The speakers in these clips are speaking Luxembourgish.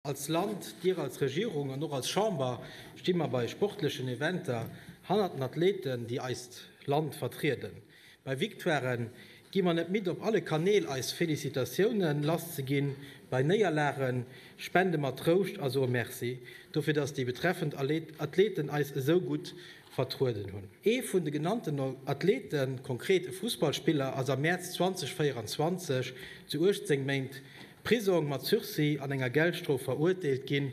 Als Land, Dir als Regierung an och als Chamber sti mer bei sportlechen Eventer hannert den Athleten, déi eist Land vertrieden. Bei Victoiren gi mer net midd op alle Kanäl eis Felicitatiounen lass ze ginn, bei Néierlage spende mer Trouscht a soe Merci dofir, dass déi betreffend Athleten eis esou gutt vertrueden hunn. Ee vun de genannten Athleten, konkret e Fussballspiller, ass am Mäerz 2024 zu 18 Méint Prisong mat Sursis an enger Geldstrof veruerteelt ginn,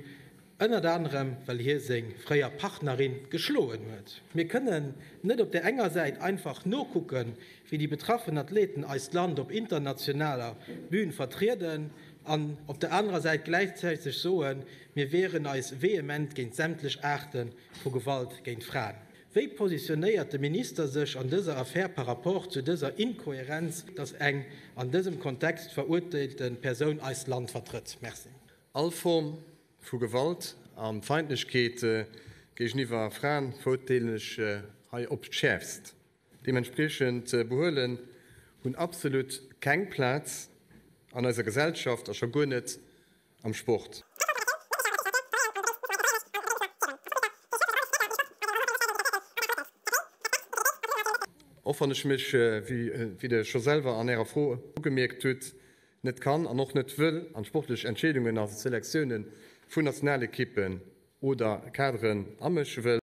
ënnert anerem well hie seng fréier Partnerin geschloen huet. Mir kënnen net op der enger Säit einfach nokucken, wéi déi betraffen Athleten eist Land op internationaler Bün vertrieden an op der anerer Säit gläichzäiteg soen, mir wieren eis vehement géint sämtlech Aarte vu Gewalt géint Fraen. Wéi positionéiert de Minister sech an dëser Affär par rapport zu dëser Inkohärenz, datt eng an dësem Kontext verurteelte Persoun eist Land vertrëtt? Merci. All Form vu Gewalt a Feindlechkeet géigeniwwer Fraen verurteelen ech hei op d'Schäerfst. Deementspriechend Behuelen hunn absolut keng Plaz an eiser Gesellschaft a scho guer net am Sport. Och wann ech mech, wéi Der scho selwer an Ärer Fro ugemierkt hutt, net kann an och net wëll an d'sportlech Entscheedungen a Selektiounen vun Nationalekippen oder Kaderen amësche wëll,